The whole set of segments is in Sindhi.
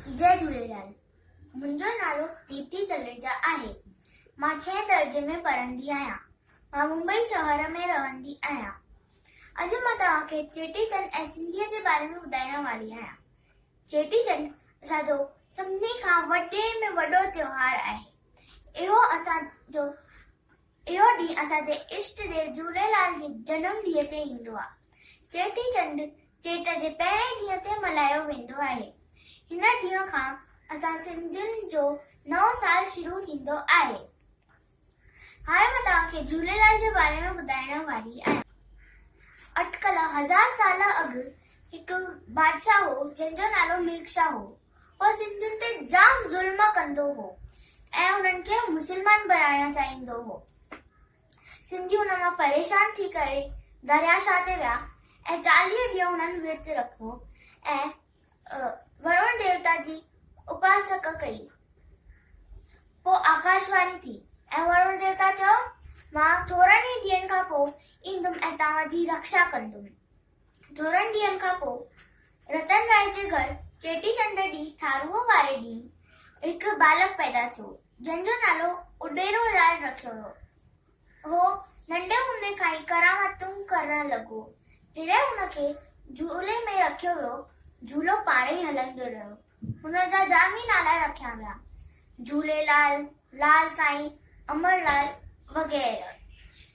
جي جهوليلال منهنجو نالو ديپتي تلريجا آهي مان ڇهين درجي ۾ پڙهندي آهيان مان ممبئي شهر ۾ رهندي آهيان اڄ مان توهان کي چيٽي چنڊ ۽ سنڌيء جي باري ۾ ٻڌائڻ واري آهيان چيٽي چنڊ اسان جو سڀني کان وڏي ۾ وڏو تيوهار آهي اهو اسان جو اهو ڏينهن اسان جي اشٽ ديو جهوليلال جي جنم ڏينهن تي ايندو آهي. چيٽي چنڊ چيٽ جي پهرئين ڏينهن تي ملهايو ويندو آهي. هن ڏينهن کان اسان سنڌين جو نئون سال شروع ٿيندو آهي. هاڻي مان توهان کي جهوليلال جي باري ۾ ٻڌائڻ واري آهيان. اٽڪل هزار سال اڳ هڪ بادشاهه هو جنهن جو نالو ملڪ شاهه هو. هو سنڌين تي جام ظلم ڪندو هو ۽ انهن کي مسلمان بڻائڻ چاهيندو هو. سنڌي ان مان پريشان ٿي ڪري دريا شاهه تي ويا ۽ چاليهه ڏينهن انهن ورت رکو ۽ ورڻ ديوتا جي اپاسڪ ڪئي. پوء آڪاش واني ٿي ۽ ورڻ ديوتا چيو، مان ٿورن ئي ڏينهن کان پوء ايندم ۽ توهان جي رڪشا ڪندم. ٿورن ڏينهن کان پوء رتن راء جي گهر چيٽي چنڊ ڏينهن ٿارونء واري ڏينهن هڪ ٻالڪ پيدا ٿيو، جنهن جو نالو اڏيرو لال رکيو ويو. هو ننڍي هوندي کان ئي ڪرامتون ڪرڻ لڳو. جڏهن هن کي جهولي ۾ رکيو ويو، جهولو پاڻ ئي هلندو رهيو. هن جا جام ئي نالا رکيا ويا، جهوليلال، لال سائين، امرلال وغيره.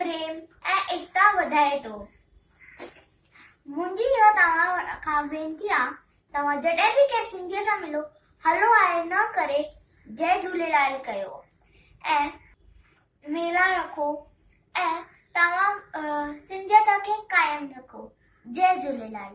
پريم ۽ ايڪتا وڌائي ٿو. منهنجي اها توهان کان وينتي آ توهان جڏهن به ڪنهن سنڌيء سان ملو هلو آهي نه ڪري جئه جهوليلال ڪيو ۽ ميلا رکو ۽ توهان سنڌيته کي قائم رکو جئه جهوليلال.